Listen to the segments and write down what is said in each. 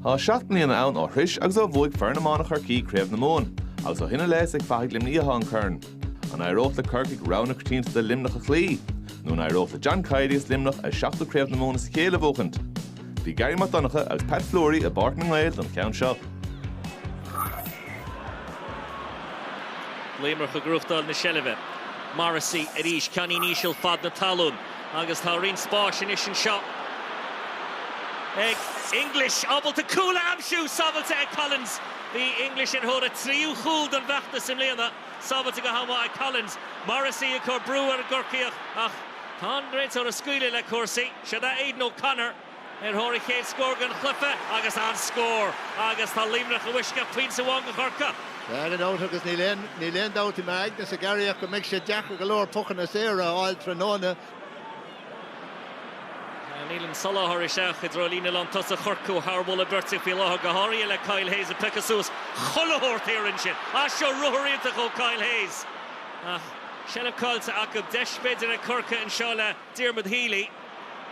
Tá seacht mbliana ann ó shroich agus ó bhuaigh foireann iomána Chorcaí Craobh na Mumhan agus ó shin i leith is ag fathaigh Luimnigh a bhí an corn. An éireodh le Corcaigh rogha na coitianta Luimneach a chloí? Nó an éireodh le John Kiely is Luimneach a seachtú Craobh na Mumhan as a chéile a bhuachaint? Bhí Garry Mac Donncha agus Pat Fleury i bPáirc na nGael don cheann seo. Laomrach ag rúchtáil na seilbhe. Morrissey arís, ceannín íseal fad na talún. Agus tá roinnt spáis anois anseo ag English. Ábalta cúl a aimsiú! Sábhailte ag Collins. Bhí English ar thóir a tríú chúl don bhfeachtas i mbliana. Sábhailte go han-mhaith ag Collins. Morrissey ag cur brú ar an gCorcaíoch ach tá an réiteoir ag scaoileadh le cúrsaí. Siod é Aidan O'Connor. Ar thóir a chéad scór den chluiche agus an-scór agus tá Luimneach i bhfoisceacht pointe amháin do Chorcaigh. Tag and out agus níl aon níl aon dabht i m'aignese Garry ach go mbeidh sé deacair go leor pucanna saora a fháil tráthnóna. Níl an soláthar isteach i dtreo líne lán tosaigh Chorcaí thar mholadh beirte faoi láthair, go háirithe le Kyle Hayes ag piocadh suas chuile shórt thiar ansin. Ah seo ruathar iontach ó Kyle Hayes ach seilbh caillte acu. Deis b'fhéidir ag Corcaigh anseo le. Diarmuid Healy,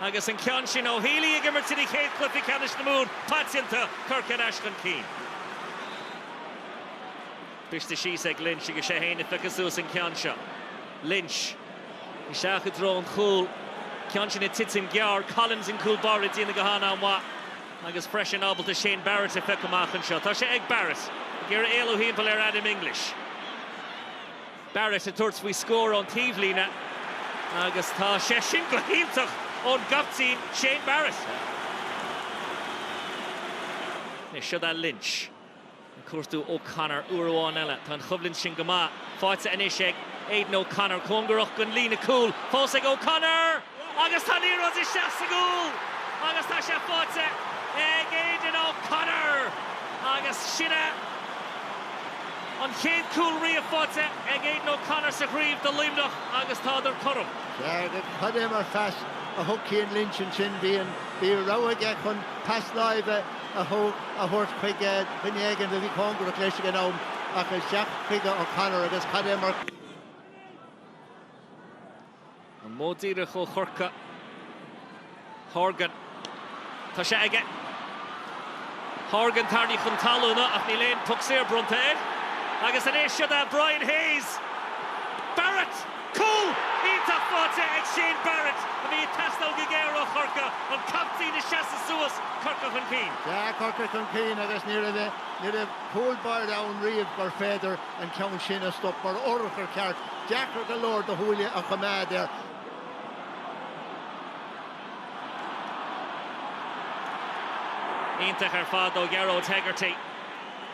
Agus an ceann sin ó Healy ag imirt ina chéad chluiche ceannais na Mumhan paiteanta, Corcaigh ar ais chun cinn. Briste síos ag Lynch agus sé fhéin a phiocas suas an ceann seo. Lynch, Isteach i dtreo an chúil. Ceann sin ag titim gearr. Collins an cúl báire ag déanamh go han-mhaith agus freisin ábalta Shane Barrett a phiocadh amach anseo. Tá sé ag Barrett. Ag iarraidh éalú thimpeall ar Adam English. Barrett ag tabhairt faoi scór ón taobhlíne agus tá sé sin go hiontach ón gcaptaen Shane Barrett. Anois siod é Lynch. Ag cuartú O'Connor uair amháin eile. Tá an choimhlint sin go maith. Faighte anois ag Aidan O'Connor. Cóngarach don líne chúil fós ag O'Connor! Agus tá an liathróid isteach sa gcúl agus tá sé faighte ag Aidan O'Connor agus sin é an chéad cúl riamh faighte ag Aidan O'Connor sa chraobh do Luimneach agus tádar cothrom. Garry cad é mar phas a thug Cian Lynch ansin, bhí an rogha aige chun pas láimhe a thabhairt chuig duine éigin a bhí cóngarach dó leis ag an am ach isteach chuig O'Connor agus cad é mar An modh díreach ó Chorcaigh. Horgan. Tá sé aige. Horgan, tarraingthe chun talún ach níl aon puc saor bronnta air. Agus anois siod é Brian Hayes. Barrett! Cúl iontach faighte ag Shane Barrett a bhí ag teastáil go géar ó Chorcaigh. An captaen ag seasamh suas. Corcaigh chun cinn. Tá Corcaigh chun cinn agus ní raibh cúl báire ann riamh gurbh fhéidir. an ceann sin a stop ba urchar ceart, deacair go leor do shúile a choimeád air. Iontach ar fad ó Ghearóid Hegarty.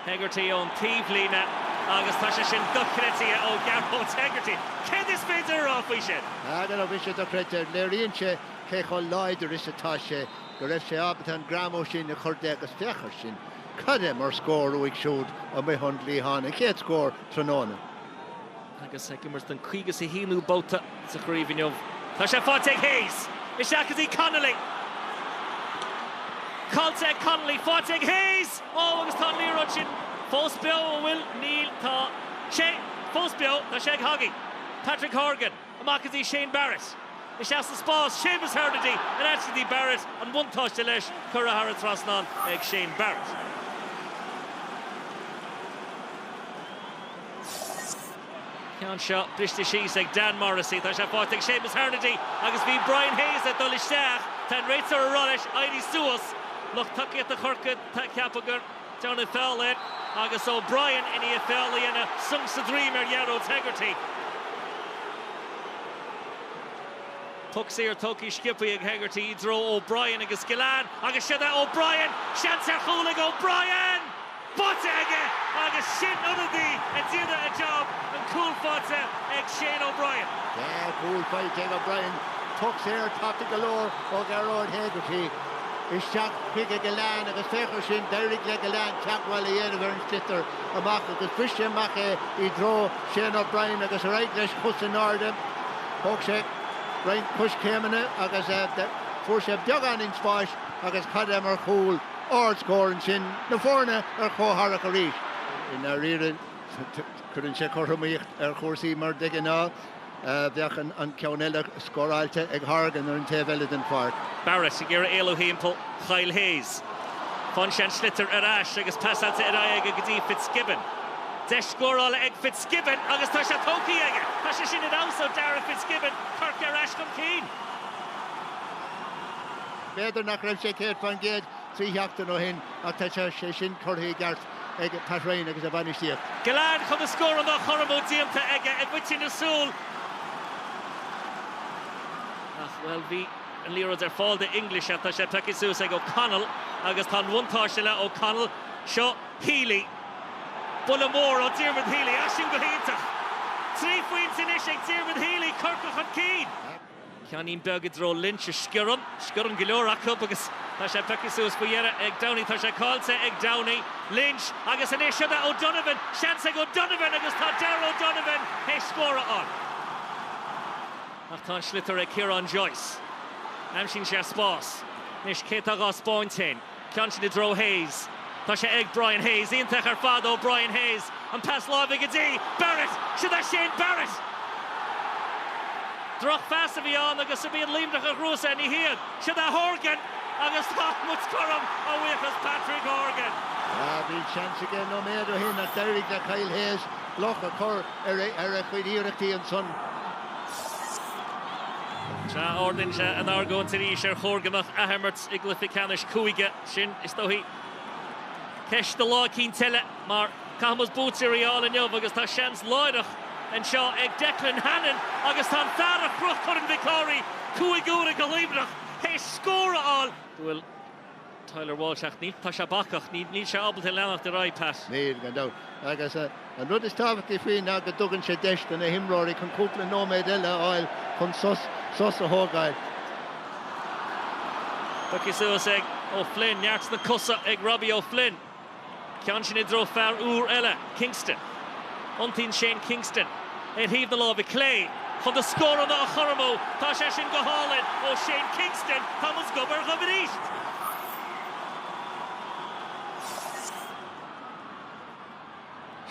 Hegarty ón taobhlíne agus tá sé sin dochreidte ó Ghearóid Hegarty. Céard is féidir a rá faoi sin? Nach raibh sé dochreidte. Léiríonn sé cé chomh láidir is atá sé, go raibh sé ábalta an greamú sin a chur de agus féach air sin. Cad é mar scór uaidh siúd amuigh ón gcliathán, a chéad scór tráthnóna. Agus ag imirt don 51ú babhta sa chraobh inniu, tá sé faighte ag Hayes. Isteach go dtí Connolly. Caillte ag Connolly. Faighte ag Hayes! Ó, agus tá an liathróid sin fós beo, an bhfuil? Níl. Tá sé fós beo. Tá sé ag Hoggy. Pat Horgan. Amach go dtí Shane Barrett. Isteach sa spás, Séamus Harnedy in áit go dtí Barrett, an buntáiste leis, curtha thar an trasnán ag Shane Barrett. Ceann seo briste síos ag Dan Morrissey, tá sé faighte ag Séamus Harnedy agus bhí Brian Hayes ag dul isteach, tá an réiteoir ag rá leis éirí suas. Lucht tacaíochta Chorcaí ag ceapadh gur. Go raibh feall air agus O'Brien i ndiaidh feall a dhéanamh sonc sa droim ar Ghearóid Hegarty. Poc saor tugtha sciobtha ag Hegarty i dtreo O'Brien agus Gillane agus seo é O'Brien! Seans ar chúl ag O'Brien! Báite aige agus sin ionadaí ag déanamh a jab, an cúl faighte ag Shane O'Brien. Dhá chúl faighte ag O'Brien, poc saor tapa go leor ó Ghearóid Hegarty. Isteach chuig Gillane agus féach air sin, d'éirigh le Gillane teagmháil a dhéanamh ar an sliotar amach agus bhris sé amach é i dtreo Shane O'Brien agus ar aghaidh leis cos in airde. Thóg sé roinnt coiscéimeanna agus fuair sé beagáinín spáis agus cad é mar chúl, ardscór ansin, na foirne ar chomh-mharc arís. I ndáiríre, cuireann sé cothromaíocht ar chúrsaí mar de ghnáth. Bheadh an ceann eile scóráilte ag Horgan ar an taobh eile den pháirc. Barrett ag iarraidh éalú timpeall Kyle Hayes. Fágann sé an sliotar ar ais agus pasáilte ar aghaidh aige go dtí Fitzgibbon. Deis scórála ag Fitzgibbon agus tá sé tógtha aige! Tá sé sin ar fheabhas ó Darragh Fitzgibbon, Corcaigh ar ais chun cinn. B'fhéidir nach raibh sé 100% trí sheachtain ó shin ach tá sé sin curtha i gceart. ag Pat Ryan agus a bhainistíocht. Gillane chun na scuabaí agus cor i mbó déanta aige i bhfaiteadh na súl ach, bhuel, bhí an liathróid ar fáil do English ach tá sé pioctha suas ag O'Connell agus tá an buntáiste le O'Connell. Seo Healy. Buille mór ó Dhiarmuid Healy. Ag imirt go hiontach. Trí phointe anois ag Diarmuid Healy, Corcaigh chun cinn. Ceannín beag i dtreo Lynch a sciorrann. Sciorrann go leor acu agus tá sé pioctha suas faoi dheireadh ag Downey. Tá sé cáillte ag Downey. Lynch agus anois siod é O'Donovan. Seans ag O'Donovan agus tá Darragh O'Donovan théis scóradh ann. Ach tá an sliotar ag Kieran Joyce. Aimsíonn sé spás. Anois cé tá dhá spáint fhéin? Ceann sin i dtreo Hayes. Tá sé ag Brian Hayes. Iontach ar fad ó Brian Hayes. An pas láimhe go dtí Barrett. Siod é Shane Barrett! Droch phas a bhí ann agus an iad Luimneach a ghnóthós é. Ní hiad. Siod é Horgan! Agus tá muid cothrom a bhuíochas Patrick Horgan. Bhí seans aige nóiméad ó shin ach d'éirigh le Kyle Hayes bloc a chur ar a chuid iarrachtaí ansan. Sea, ardaíonn sé an argóint arís ar chóir go mbeadh athimirt. i gcluiche ceannais cúige. Sin, is dóigh, ceist do lá eicínt eile, mar caithfimid buaiteoirí a fháil inniu agus tá seans láithreach anseo ag Declan Hannon agus tá an fear a chroch Corn Mhic Cárthaigh cúig huaire do Luimneach théis scór a fháil bhuel, Tyler Walsh, ach níl, tá sé bacach, níl sé ábalta leanacht ar aghaidh, Pat. Níl, gan dabht, agus. An rud is tábhachtaí faoi ná go dtugann sé deis do na himreoirí chun cúpla nóiméad eile a fháil chun sos a thógáil. Tógtha suas ag O'Flynn. Neart sna cosa ag Robbie O'Flynn. Ceann sin i dtreo fear úr eile, Kingston. Iontaíonn Shane Kingston ar thaobh na láimhe clé chun na scóranna a chothromú. Tá sé sin go hálainn ó Shane Kingston. Tá muid gob ar ghob arís!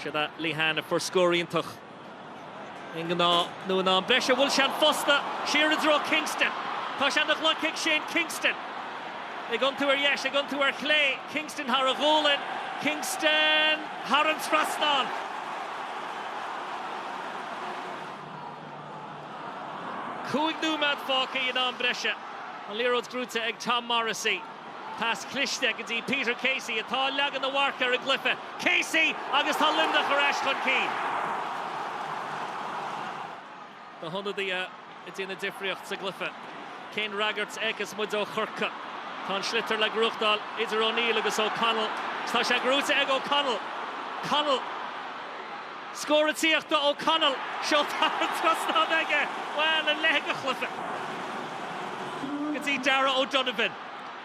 Siod é Lehane a fuair scór iontach i ngnáth nó in am breise. Bhuail sé an phosta siar i dtreo Kingston. Tá sé ina ghloic ag Shane Kingston. Ag iontú ar dheis, ag iontú ar chlé. Kingston thar a ghualainn. Kingston thar an trasnán. Cúig nóiméad fágtha in am breise. An liathróid gnóite ag Tom Morrissey. Pas cliste go dtí Peter Casey atá ag leagan a mharc ar an gcluiche. Casey agus tá Luimneach ar ais chun cinn. Na hionadaithe ag déanamh an difríocht sa gcluiche. Cén fhreagairt a fheicfeas muid ó Chorcaigh? Tá an sliotar le gnóthachtáil idir O'Neill agus O'Connell. Tá sé gnóite ag O'Connell. Connell. Scór ag tíocht ó O'Connell, seolta thar an trasnán aige, bhuel, a leithéid de chluiche! go dtí Darragh O'Donovan.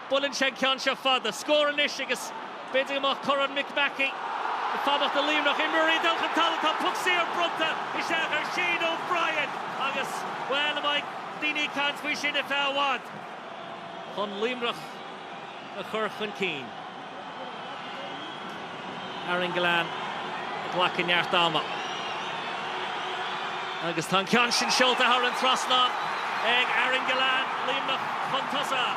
Buaileann sé an ceann seo fada. Scór anois agus b'fhéidir go mbeadh Corn Mick Mackey ag fanacht i Luimneach. Imreoirí ag dul chun talún. Tá puc saor bronnta isteach ar Shane O'Brien agus, bhuel, an mbeidh daoine ag caint faoi sin ar feadh i bhfad. chun Luimneach a chur chun cinn. Aaron Gillane ag glacadh neart ama agus tá an ceann sin seolta thar an trasnán ag Aaron Gillane, Luimneach chun tosaigh.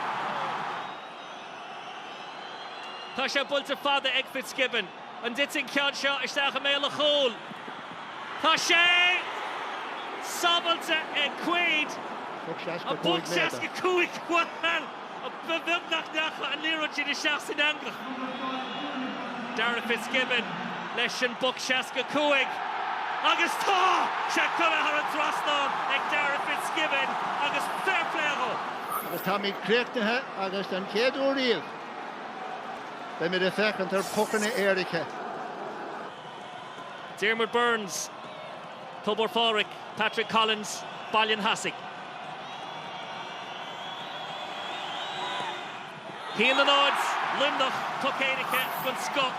Tá sé buailte fada ag Fitzgibbon, an dtitfidh an ceann seo isteach i mbéal an chúil? Tá sé! Sábháilte ag Quaid, ach poc 65! Ba bheag nach ndeacha an liathróid sin isteach san eangach. Darragh Fitzgibbon leis an bpoc, 65, agus tá sé curtha thar an trasnán ag Darragh Fitzgibbon agus fair play dhó. Agus táimid críochnaithe agus den chéad uair riamh beidh muid ag féachaint ar phocanna éirice. Diarmuid Byrnes. Tobar Phádraig, Patrick Collins, Baile an Cheasaigh. 1-0, Luimneach, poc éirice den scoth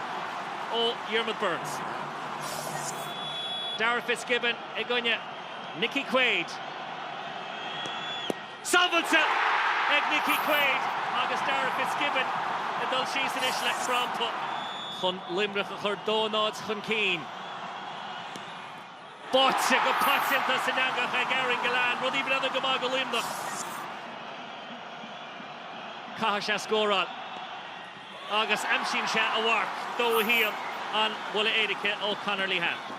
ó Dhiarmaid Byrnes. Darragh Fitzgibbon i gcoinne Nicky Quaid. Sábháilte ag Nicky Quaid agus Darragh Fitzgibbon ag dul síos anois le crampa. chun Luimneach a chur 2-0 chun cinn. Báite go paiteanta san eangach ag Aaron Gillane, rudaí ag breathnú go maith do Luimneach. Caithfidh sé scóráil. Agus aimsíonn sé a mharc. 2-1 an buille éirice ó Conor Lehane.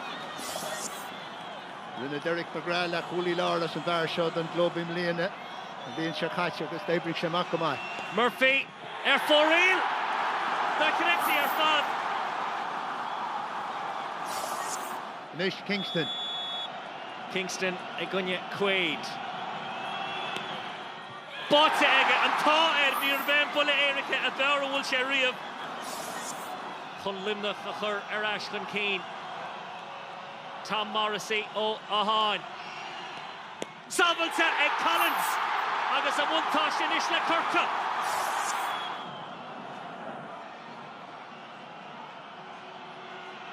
Rinne Derek McGrath leathchúlaí láir as an bhfear seo don gclub i mbliana an bhliain seo caite agus d'oibrigh sé amach go maith. Murphy, Ar fóraoil dochreidte ar fad. Anois Kingston. Kingston i gcoinne Quaid. Báite aige! An t-ádh air, níorbh é an buille éirice ab fhearr a bhuail sé riamh chun Luimneach a chur ar ais chun cinn. Tom Morrissey ó Átháin. Sábháilte ag Collins agus an buntáiste anois le Corcaigh.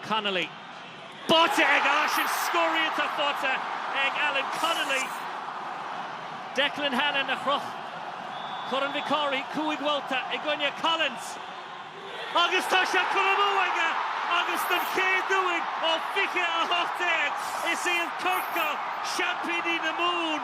Connolly. Báite aige, sin scór iontach, báite ag Alan Connolly. Declan Hannon a chroch Corn Mhic Cárthaigh cúig bhabhta i gcoinne Collins. Agus tá sé curtha amú aige agus den chéad uair ó 2018, is iad Corcaigh seaimpíní na Mumhan.